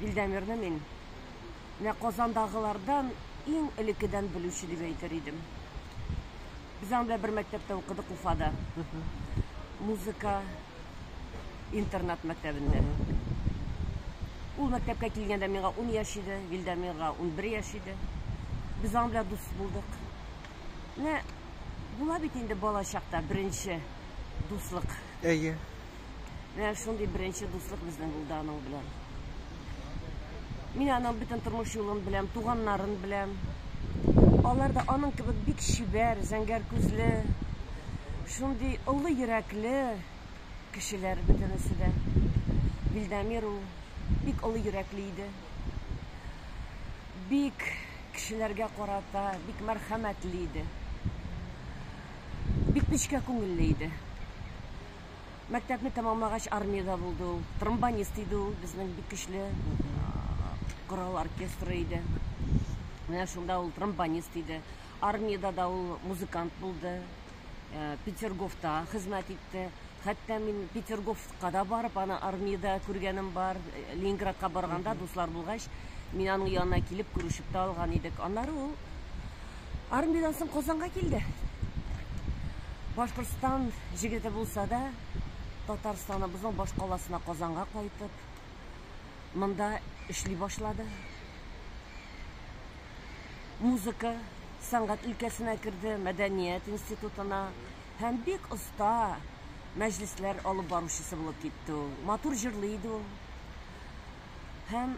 Илдәмирне мин менә Казандагылардан иң элекедән белүче дип әйтер идем. Без аның белән бер мәктәптә укыдык Уфада. Музыка интернат мәктәбендә. Ул мәктәпкә килгәндә миңа ун яшь иде, Вильдәмирга унбер яшь иде. Без аның белән дус булдык. Менә була бит инде бала чакта беренче дуслык. Әйе. Менә шундый беренче дуслык безнең булды аның белән. Мин аның бөтен тормыш юлын беләм, туганнарын беләм. Алар да аның кебек бик чибәр, зәңгәр күзле, шундый олы йөрәкле кешеләр бөтенесе дә. Вильдамир ул бик олы йөрәкле иде. Бик кешеләргә карата бик мәрхәмәтле иде. Бик нечкә күңелле иде. Мәктәпне тәмамлагач армиядә булды ул. Тромбонист иде ул, безнең бик көчле корал оркестры иде. Менә шунда ул тромбонист иде. Армиядә дә ул музыкант булды. Э, Петерговта хезмәт итте. Хәтта мин Петерговка да барып, аны армиядә күргәнем бар. Э, Ленинградка барганда дуслар булгач, мин аның янына килеп күрешеп тә алган идек. Аннары ул Армиядән соң Казанга килде. Башкортстан җегете булса да, Татарстаныбызның баш каласына Казанга кайтып, монда эшли башлады. Музыка, сәнгать өлкәсенә керде, мәдәният институтына һәм бик оста мәҗлесләр алып баручысы булып китте ул. Матур җырлый иде ул. Һәм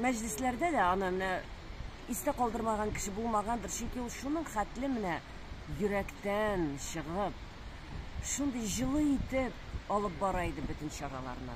мәҗлесләрдә дә аны менә истә калдырмаган кеше булмагандыр, чөнки ул шуның хәтле менә йөрәктән чыгып, шундый җылы итеп алып бара иде бөтен чараларны.